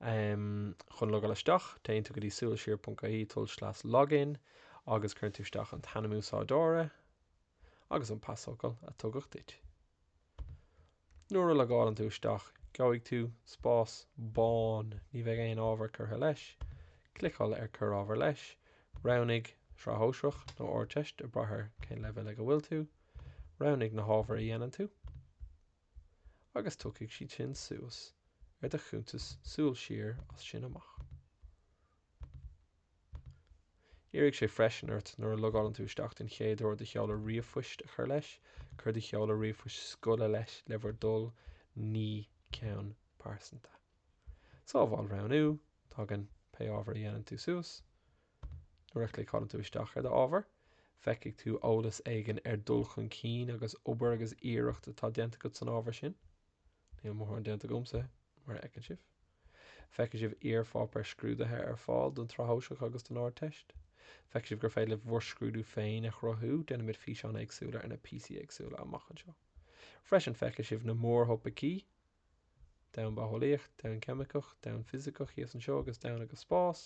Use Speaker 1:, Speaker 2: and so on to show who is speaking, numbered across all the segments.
Speaker 1: Um chun logáil isteach, téann tú go dtí suilsiar.ie, tulslais login, agus cuireann tú isteach an t-ainm úsáideora agus an pasfhocal a tugadh duit. Nuair a logálann tú isteach, gheobhaidh tú spás bán, ní bheidh aon ábhar curtha leis. Cliceáil ar Cuir Ábhar Leis, roghnaigh Sraith Shóisearach nó Ardteist, ag brath ar cén leibhéal ag a bhfuil tú. Roghnaigh na hábhair a dhéanann tú. agus tiocfaidh siad sin suas ar do chuntas súil siar as sin amach. Iarrfaidh sé freisin ort nuair a logálann tú isteach den chéad uair do sheoladh ríomhphoist a chur leis, cuir do sheoladh ríomhphoist scoile leis le bhur dtoil, ní ceann pearsanta. Sábháil roghnú, tagann pé ábhar a dhéanann tú suas, Nuair a chliceálann tú isteach ar d'ábhar, feicfidh tú eolas éigin ar dhul chun cinn agus obair agus iarracht atá déanta agat san ábhar sin. Níl mórán déanta agamsa, mar a fheiceann sibh. Feicfidh sibh iarpháipéir scrúdaithe ar fáil don tSraith Shóisearach agus don Ardteist. Feicfidh sibh gur féidir libh bhur scrúdú féin a chruthú, déanfaimid físeáin éagsúla ar na píosaí éagsúla amach anseo. Freisin feicfidh sibh na mórthopaicí. domhan bitheolaíoch, domhan ceimiceach, domhan fisiceach thíos anseo agus domhan agus spás,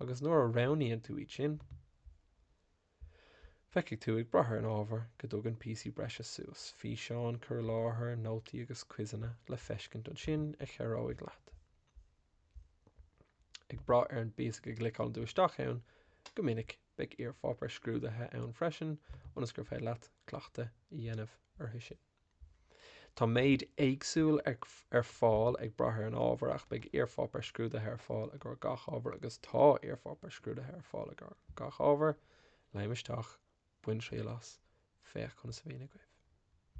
Speaker 1: agus nuair a roghnaíonn tú iad sin, feicfidh tú ag brath ar an ábhar go dtagann píosaí breise suas, físeáin, cur i láthair, nótaí agus quizeanna le feiscint ansin a chabhróidh leat, ag brath ar an bpíosa go gcliceálann tú isteach ann, go minic beidh iarpháipéir scrúdaithe ann freisin ionas gur féidir leat cleachtadh a dhéanamh orthu sin. Tá méid éagsúil ar fáil ag brath ar an ábhar ach beidh iarpháipéar scrúdaithe ar fáil i gcomhair gach ábhar agus tá iarpháipéar scrúdaithe ar fáil i gcomhair gach ábhar, léim isteach, bain triail as, féach conas a éiríonn agaibh.